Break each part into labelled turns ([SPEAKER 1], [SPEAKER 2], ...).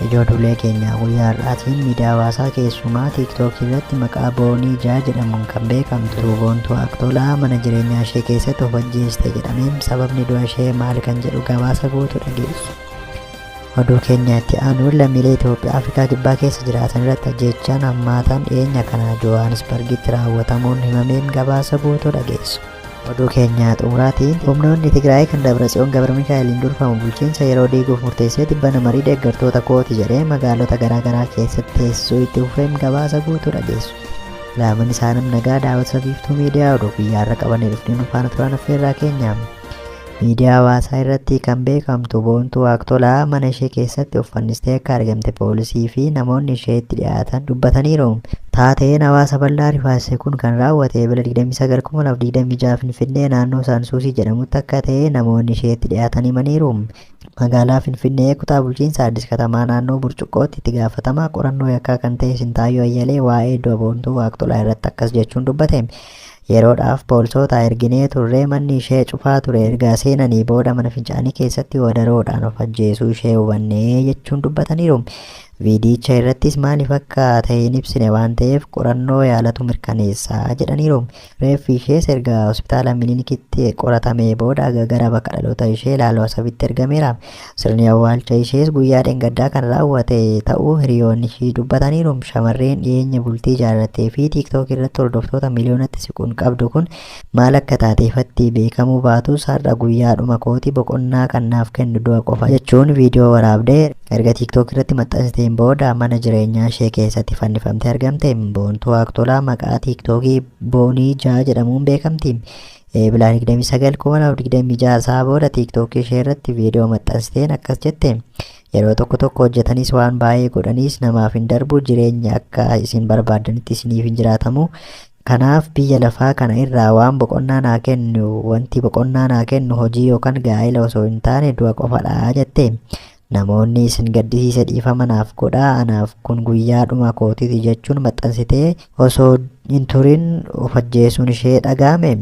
[SPEAKER 1] Ijoo duulee keenyaa guyyaa har'aatiin miidiyaa hawaasaa keessumaa tiiktookii irratti maqaa boonii jaa jedhamuun kan beekamtu tuuboontuu aktolaa mana jireenyaa ishee keessatti of ajjeeste jedhameen sababni du'a ishee maal kan jedhu gabaasa guutu dhageessu. Oduu keenya itti aanuun lammiilee Itoophiyaa Afrikaa Kibbaa keessa jiraatan irratti ajjeechaan hammaataan dhiyeenya kana Johaanisbargitti raawwatamuun himameen gabaasa guutuu dhageessu. Oduu keenya xumuraatiin humnoonni Tigraay kan Dabratsiyoon Gabramikaa'eliin durfamu bulchiinsa yeroo diiguuf murteessee tibbana marii deeggartoota kooti jedhee magaalota garaagaraa keessatti teessisuu itti fufeen gabaasa guutuu dhageessu. Laaman isaa nam nagaa daawwatsa biiftuu miidiyaa oduu guyyaarra qabannee dhufnee nu faana turaa naffeerraa keenyaam. Miidiyaa hawaasaa irratti kan beekamtu Boontuu Waaqtolaa mana ishee keessatti of fannistee akka argamte poolisii fi namoonni isheetti dhiyaatan dubbataniiru. Taateen hawaasa bal'aa rifaasise kun kan raawwate Ebla 29/2026 Finfinnee naannoo Saansuusii jedhamutti akka ta'e namoonni isheetti dhiyaatan himaniiru. Magaalaa Finfinnee kutaa bulchiinsa Addis Katamaa naannoo Burcuqqootti itti gaafatamaa qorannoo yakkaa kan ta'e Sintaayyoo Ayyalee waa'ee du'a Boontuu Waaqtolaa irratti akkas jechuun dubbate. Yeroodhaaf poolisoota erginee turre, manni ishee cufaa ture erga seenanii booda mana fincaanii keessatti wadaroodhaan of ajjeesuu ishee hubanne jechuun dubbataniiru. Viidiyicha irrattis maaliif akka ta'e hin ibsine waan ta'eef qorannoo yaalatu mirkaneessa jedhaniiru. Reeffi ishees erga hospitaala Minilikitti qoratamee booda gara bakka dhaloota ishee Laaloo Asabitti ergameera. Sirni awwaalcha ishees guyyaa dheengaddaa kan raawwate ta'uu hiriyoonni ishii dubbataniiru. Shamarreen dhiyeenya bultii ijaarrattee fi TikTok irratti hordoftoota miliyoonatti siquun qabdu kun maal akka taate ifatti beekamuu baatus har'a guyyaa dhuma kooti boqonnaa kan naaf kennu du'a qofa jechuun viidiyoo waraabde erga TikTok irratti maxxansiteen booda mana jireenyaa ishee keessatti fannifamtee argamte. Boontuu Aktolaa maqaa TikTokii Boonii Jaa jedhamuun beekamti. Eebila 29 2026 isaa booda tiiktookii ishee irratti viidiyoo maxxansiteen akkas jette. Yeroo tokko tokko hojjetanis waan baay'ee godhanis namaaf hin darbu jireenyi akka isin barbaaddanitti isiniif hin jiraatamu. Kanaaf biyya lafaa kana irraa waan boqonnaa naa kennu wanti boqonnaa naa kennu hojii yookaan gaa'ila osoo hin taane du'a qofadha jette. Namoonni isin gaddisiise dhiifama naaf godhaa anaaf kun guyyaa dhuma kootiti jechuun maxxansitee osoo hin turin of ajjeesuun ishee dhaga'ame.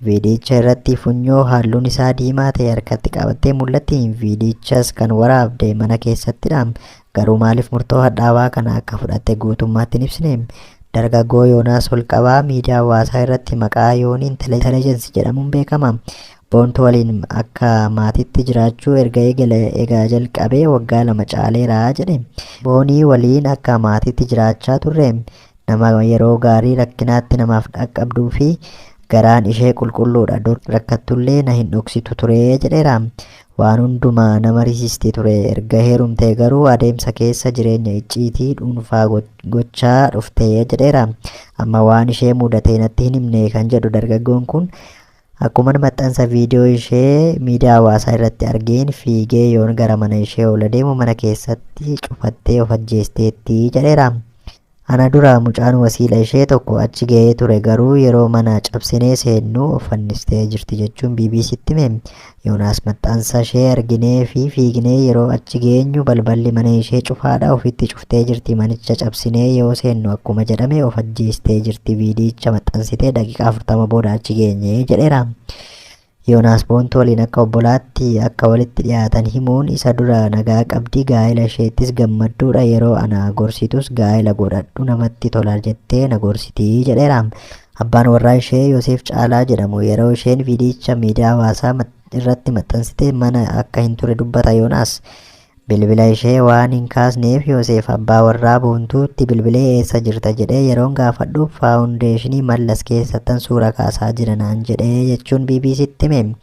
[SPEAKER 1] Viidiyicha irratti funyoo halluun isaa diimaa ta'e harkatti qabattee mul'atti. Viidiyichas kan waraabde mana keessattidha. Garuu maaliif murtoo hadhaawaa kana akka fudhatte guutummaatti hin ibsine. Dargaggoo Yoonaas Olqabaa miidiyaa hawaasaa irratti maqaa Yooniin Telejensi jedhamuun beekama. Boontu waliin akka maatiitti jiraachuu erga eegale egaa jalqabee waggaa lama caaleera jedhe. Boonii waliin akka maatiitti jiraachaa turre nama yeroo gaarii rakkinaatti namaaf dhaqqabduu fi garaan ishee qulqulluudha dur rakkattullee na hin dhoksitu ture jedheera. Waan hundumaa na marisiisti ture erga heerumtee garuu adeemsa keessa jireenya icciitii dhuunfaa gochaa dhufte jedheera. Amma waan ishee mudatee natti hin himne kan jedhu dargaggoon kun Akkuman maxxansa viidiyoo ishee miidiyaa hawaasaa irratti argeen fiigee yoon gara mana ishee ol adeemu mana keessatti cufattee of ajjeesteetti jedheera. Ana dura mucaan wasiila ishee tokko achi ga'ee ture garuu yeroo mana cabsinee seennu of fannistee jirti jechuun BBC'tti hime. Yoonaas maxxansa ishee arginee fi fiignee yeroo achi geenyu balballi mana ishee cufaadha ofitti cuftee jirti manicha cabsinee yoo seennu akkuma jedhame of ajjeestee jirti viidiyicha maxxansitee daqiiqaa 40 booda achi geenye jedheera. Yoonaas Boontuu waliin akka obbolaatti akka walitti dhiyaatan himuun isa dura nagaa qabdi gaa'ela isheettis gammadduudha yeroo ana gorsitus gaa'ela godhadhu namatti tola jettee na gorsitii jedheera. Abbaan warraa ishee Yoseef Caalaa jedhamu yeroo isheen viidiyicha miidiyaa hawaasaa irratti maxxansite mana akka hin ture dubbata Yoonaas. Bilbila ishee waan hin kaasneef Yoseef abbaa warraa Boontuutti bilbilee eessa jirta jedhee yeroon gaafadhu faawundeeshinii Mallas keessattan suura kaasaa jira naan jedhee jechuun BBC'tti hime.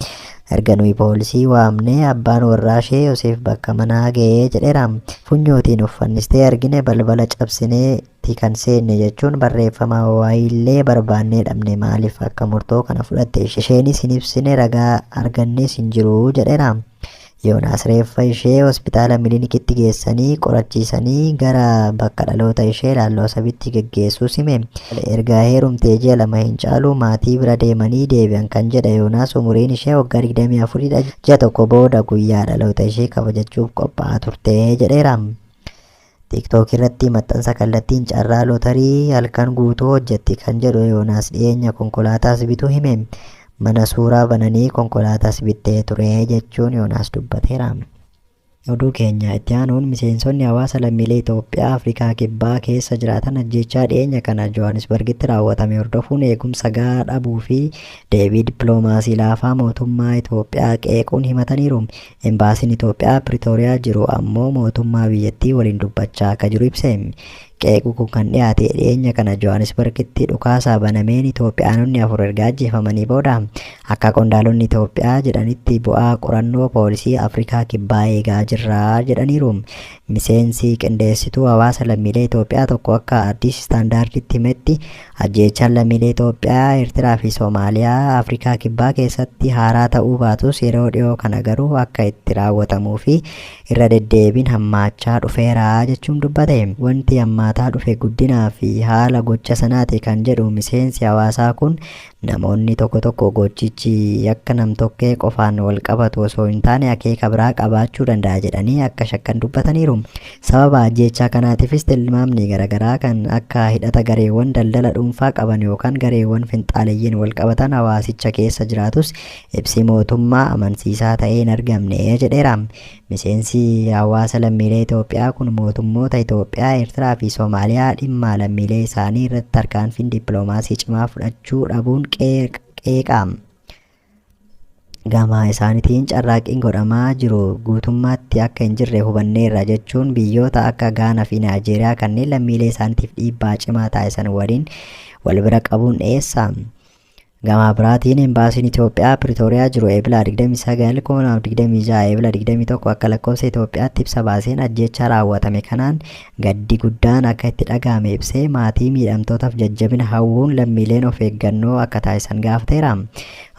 [SPEAKER 1] Erga nuyi poolisii waamnee abbaan warraa ishee Yoseef bakka manaa ga'ee jedheera. Funyootiin uffannistee argine balbala cabsinee tti kan seenne jechuun barreeffama wayiillee barbaannee dhabne maaliif akka murtoo kana fudhatte isheenis hin ibsine ragaa argannes hin jiru jedheera. Yoonaas reeffa ishee hospitaala Milinikitti geessanii qorachiisanii gara bakka dhaloota ishee Laalloo Asabitti geggeessuus hime. Erga heerumtee ji'a lama hin caalu maatii bira deemanii deebi'an kan jedhe Yoonaas umuriin ishee waggaa 24 dha. Ji'a tokko booda guyyaa dhaloota ishee kabajachuuf qophaa'aa turte jedheera. TikTok irratti maxxansa kallattiin carraa lootarii halkan guutuu hojjetti kan jedhu Yoonaas dhiyeenya konkolaataas bituu hime. Mana suuraa bananii konkolaataas bittee ture jechuun Yoonaas dubbateera. Oduu keenya itti aanuun miseensonni hawaasa lammiilee Itoophiyaa Afrikaa Kibbaa keessa jiraatan ajjeechaa dhiyeenya kana Johaanisbargitti raawwatame hordofuun eegumsa gahaa dhabuu fi deebii dippiloomaasii laafaa mootummaa Itoophiyaa qeequun himataniiru. Embaasiin Itoophiyaa Piritooriyaa jiru ammoo mootummaa biyyattii waliin dubbachaa akka jiru ibse. Qeequ kun kan dhiyaate dhiyeenya kana Johaanisbargitti dhukaasaa banameen Itoophiyaanonni afur erga ajjeefamanii booda. Akka qondaalonni Itoophiyaa jedhanitti bu'aa qorannoo poolisii Afrikaa Kibbaa eegaa jirra jedhaniiru. Miseensi qindeessituu hawaasa lammiilee Itoophiyaa tokko akka Addis Standarditti himetti Ajjeechaan lammiilee Itoophiyaa, Eertiraa fi Somaaliyaa Afrikaa Kibbaa keessatti haaraa ta'uu baatus yeroo dhiyoo kana garuu akka itti raawwatamuu fi irra deddeebiin hammaachaa dhufeera jechuun dubbate. Wanti hammaataa dhufe guddinaa fi haala gocha sanaati kan jedhu miseensi hawaasaa kun, namoonni tokko tokko gochichi yakka nam-tokkee qofaan wal qabatu osoo hin taane akeeka biraa qabaachuu danda'a jedhanii akka shakkan dubbataniiru. Sababa ajjeechaa kanaatiifis tilmaamni garagaraa kan akka hidhata gareewwan daldala dhuunfaa qaban yookaan gareewwan finxaaleyyiin walqabatan hawaasicha keessa jiraatus ibsi mootummaa amansiisaa ta'ee hin argamne jedheera. Miseensi hawaasa lammiilee Itoophiyaa kun mootummoota Itoophiyaa, Eertiraa fi Somaaliyaa dhimma lammiilee isaanii irratti tarkaanfiin dippiloomaasii cimaa fudhachuu dhabuun qeeqa. Gama isaanitiin carraaqqiin godhamaa jiru guutummaatti akka hin jirre hubanneerra jechuun biyyoota akka Gaanaa fi Naayijeeriyaa kanneen lammiilee isaaniitiif dhiibbaa cimaa taasisan waliin wal bira qabuun dhiyeessa. Gama biraatiin embaasiin Itoophiyaa Piritooriyaa jiru Eebila 29 2026 Eebila 21 akka lakkoofsa Itoophiyaatti ibsa baaseen ajjeechaa raawwatame kanaan Gaddi guddaan akka itti dhaga'ame ibsee, maatii miidhamtootaaf jajjabina hawwuun lammiileen of eeggannoo akka taasisan gaafateera.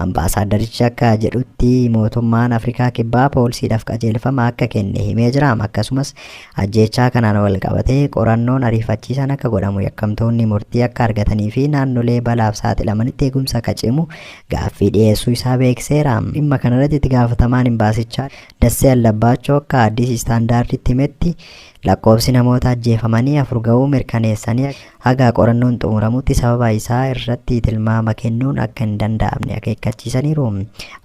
[SPEAKER 1] Ambaasaaddarichi akka jedhutti, mootummaan Afrikaa Kibbaa poolsiidhaaf qajeelfama akka kenne himee jira. Akkasumas, ajjeechaa kanaan walqabatee qorannoon ariifachiisaan akka godhamu, yakkamtoonni murtii akka argatanii fi naannolee balaaf saaxilamanitti eegumsa akka cimu gaaffii dhiyeessuu isaa beeksiseera. Dhimma kanarratti itti gaafatamaan imbaasichaa Dassee Allabbaachoo akka Addis Standard'tti himetti, Lakkoofsi namoota ajjeefamanii afur ga'uu mirkaneessanii haga qorannoon xumuramutti sababa isaa irratti tilmaama kennuun akka hin danda'amne akeekkachiisaniiru.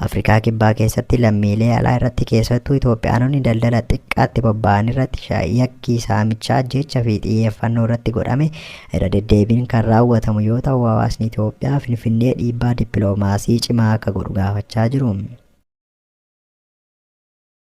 [SPEAKER 1] Afrikaa Kibbaa keessatti lammiilee alaa irratti keessattuu Itoophiyaanonni daldala xiqqaatti bobba'an irratti yakki saamichaa, ajjeechaa fi xiyyeeffannoo irratti godhame irra deddeebiin kan raawwatamu yoo ta'u hawaasni Itoophiyaa Finfinnee dhiibbaa dippiloomaasii cimaa akka godhu gaafachaa jiru.